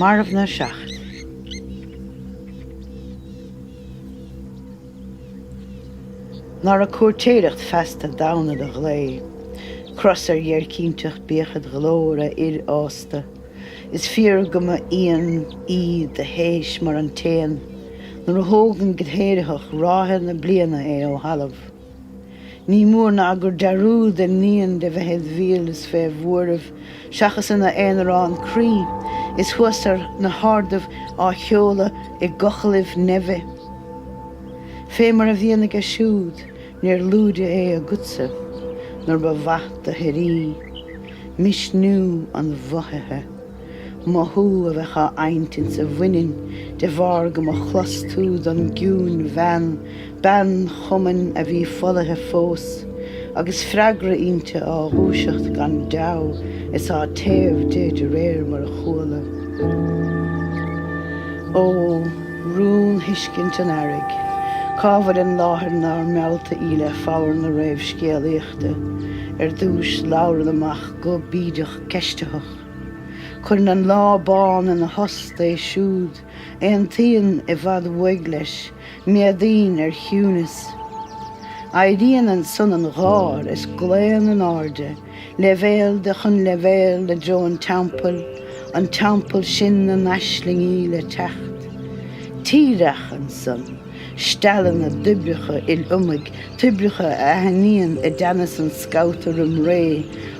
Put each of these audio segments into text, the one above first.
Marbhna 7. Nára cúirtéireacht feasta damhna do ghlao, cros ar dhéircínteacht bíodh id ghlór, a fhir fhásta. Is fíor go mba íon í do shéis mar an t-éan nuair a thógann go héiritheach ráithe na bliana é ó thalamh. Ní mór ná gur dearúd a níonn de bheith id mhíol is fé bhuaireamh seachas ina aonarán croí is thuas ar na hardaibh á sheoladh i gcochallaibh neimhe. Fé mar a bhíonn aige siúd, Níor lúide é agatsa nuair ba mhaith do shuirí, misniú an mhothaithe, mothú a bheadh á adhaint insa bhaineann de bharr go mba chlos tú don gciúin-bhean, bean chumainn a bhí folaithe fós, agus freagra inti á dhúiseacht gan deabhadh is á téamh di de réir mar a chuala. Ó! Rún thuiscint an Earraigh. Cá bhfuil an láthair nár meallta í le foghar na réamhscéalaíochta? Ar dtúis, labhrann amach go bídeach ceistitheach. Cuireann an lá bán ina thost é siúd. Aontaíonn i bhfad uaidh leis. Méadaíonn ar chiúnas. Éiríonn ansan an gháir is glaonn in airde. Leibhéal de chun leibhéal i dtreo an Teampaill, an Teampall sin na n-aislingí le teacht. Tríreach ansan, steall na dtoibreacha il-iomaidh, toibreacha a aithníonn i dteannas an scabhta roim ré,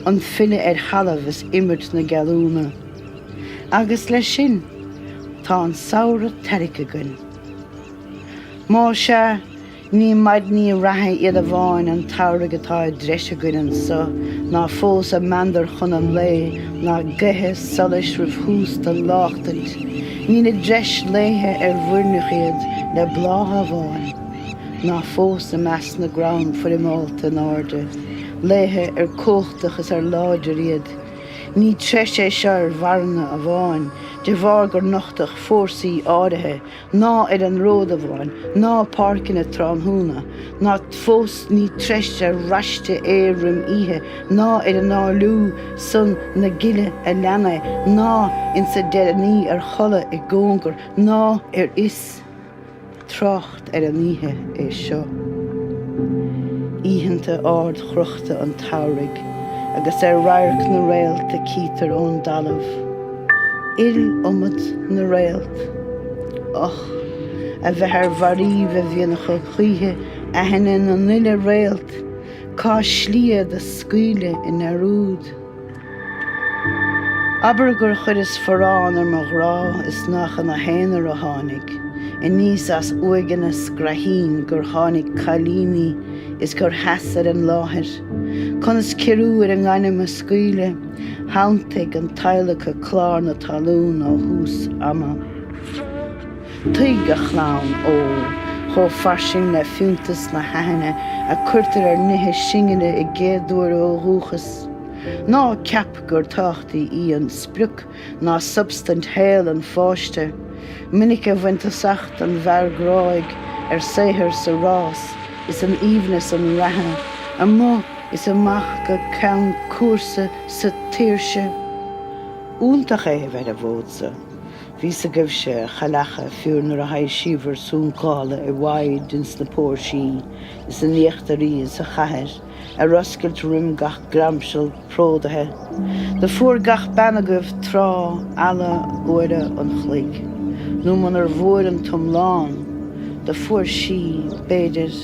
an filleadh ar thalamh is imirt na geallúna. Agus leis sin, tá an samhradh tairgthe againn. Más ea, Ní maidní reatha iad amháin an tsamhraidh atá i dtreis againn anso, ná fós a meandar chun an lae, ná gaethe solais roimh thús don láchtaint. Níl i dtreis laethe ar mhuirneach iad le blátha amháin, ná fós i measc na gcrann foirmeálta in airde, laethe ar cumhachtach is ar láidir iad. Ní treis é seo ar mharana amháin, de bharr gur nochtadh fórsaí áirithe ná ar an ród amháin, ná páirceanna tráthnóna, ná fós ní treis ar raiste é roim oíche, ná ar análú san na gile a lean é, ná insa deireadh ní ar chodladh i gcóngar, ná ar fhios trácht ar an oíche é seo. Oícheanta ardchrochta an tsamhraidh agus ar radharc na réalta cítear ón dtalamh. iliomad na réalt, och, a bheith ar mharaíbh a bhíonn acu choíche aithne na n-uile réalt, cá slí iad do scaoileadh i ndearúd. Abair gur chuireas forrán ar mo ghrá is nach ina haonar a tháinig, aníos as uaigheanna scraithín gur tháinig cailíní is gur sheas ar an láthair. Conas ciorrú ar an ngairm a scaoileadh? Shantaigh an t-adhlactha clár na talún ó thús ama. Tuig, a chlann ó, chomh fairsing le fiúntas na haithne a cuirtear ar nithe singile i gcéaduair ó dhúchas, ná ceap gur tábhachtaí í an sprioc ná substaint shaol an pháiste, minic a bhain tosach den bhfear gráidh ar saothar sa rás is in aoibhneas an reatha, amuigh is amach go ceann cúrsa sa tsaoirse. Iontach é a bheith ar an bhfód-sa. Bhí a fhios agaibhse, a chailleacha, fiú nuair a thaibhsíobhair suncálta i bhfaid ins na póirsí is in íochtaraí sa chathair, ar oscailt roim gach gramsal pródaithe do fuair gach bean agaibh tráth ala uaire an chluig, nó munar bhfuair an t-iomlán do fuair sí, b'fhéidir,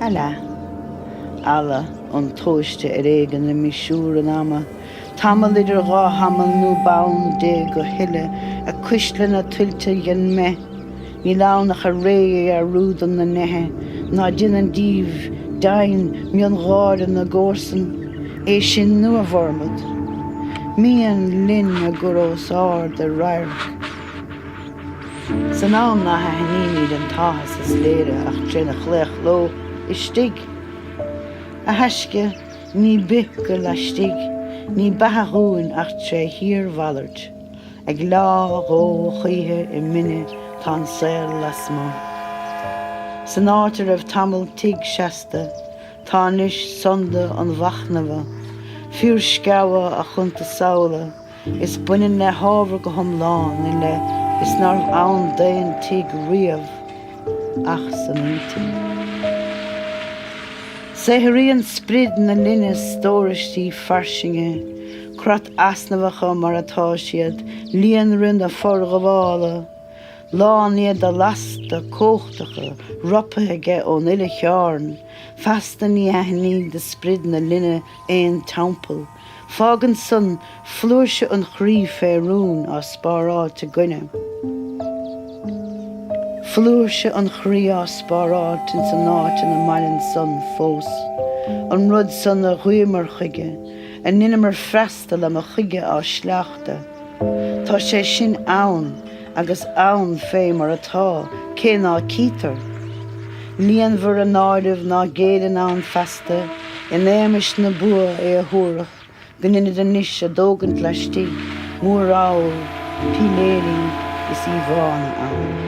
a leath. Ala intomhaiste ar éigin le misiúr an ama, tamall idir dhá thamall nuair b'ann di go huile a cuisleanna tuilte den mbeith, Níl ann ach a réidhe a dhearúdam na neithe ná déanann díobh deimhin miongháire na gcomharsan, é sin nó a bhformad. Mian linn a gcur os ard ar radharc. San am ná haithnímíd an t-áthas is léire ach tré na chlaochló istigh. A thaisce, ní bith go laistigh, ní beatha dhúinn ach tré shíor-mhalairt. Ag leá dhó choíche i mine tá an saol lasmuigh. San áit a raibh tamall tigh seasta, tá anois sonda an mhachnamha, fiarsceabha a chuntasamhaladh, is baineann le hábhar go hiomlán i leith is nárbh ann d'aon tigh riamh ach san intinn. Saothraíonn sprid na linne stóraistí fairsinge, Creat easnamhacha mar atá siad, líonrith na forghabhála, lán iad de lasta cumhachtacha ropaithe aige ón uile chearn, feasta ní aithnid do sprid na linne aon teampall. Fágann san flúirse an chroí fé rún, á spáráilt againne. Flúirse an chroí á spáráilt ins an áit ina maireann san fós, an rud san a ghuíomar chuige, A ndeineamar freastal a mba chuige ár sléachtadh. Tá sé sin ann agus ann fé mar atá, cé ná cítear. Líonmhar a n-áireamh ná géilleann ann feasta in éamais na bua é a thabharfadh go ndeinid anois a dtógaint laistigh móramhail píléirí is íomhánna ann.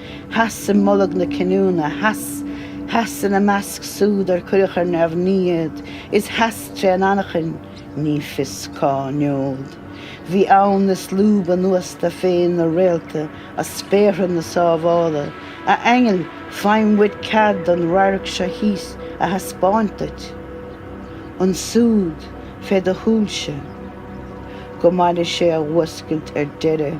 Sheas i mbolg na cinniúna, sheas, sheas ina measc súd ar cuireadh ar neamhní iad, is sheas tré an anachain, ní fios cá ngeobhad. Bhí ann is lúb anuas dó féin na réalta as spéartha na sábhála, a aingil, faighim uait cead an radharc seo thíos a thaispeáint duit. Ansúd, fé do shúilse. Go maire sé a fhuascailt ar deireadh.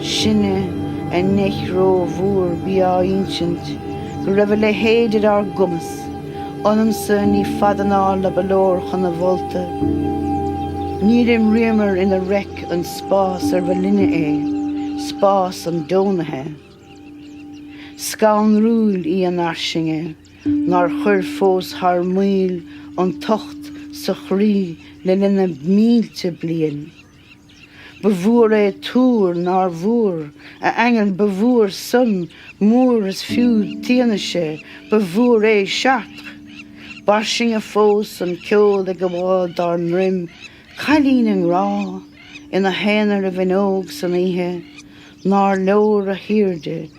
Sinne a neach ró-mhór bí á ínsint go raibh a leithéid ar ár gcumas, ionamsa níl fad anála ba leor chun a mholta. Níor imríomar ina reic an spás ar ba linne é, spás an deonaithe. Scanrúil í an fhairsinge nár chuir fós thar maoil an tocht sa chroí le linn na mílte bliain. Ba mhór é túr nár mhór, a aingil, ba mhór san, mór is fiú id fhianaise, ba mhór é Chartres. B'fhairsinge fós an ceol ag gabháil dár ndroim, cailín i ngrá, ina haonar i bhfuinneog san oíche, nár leor a haoirde,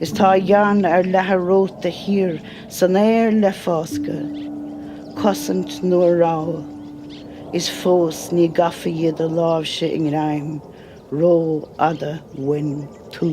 Is tá a dhearna ar leathadh romhat thiar san aer le fáscadh, cosaint nó rabhadh, is fós ní gafa í do láimhse i ngreim rófhada uainn tú.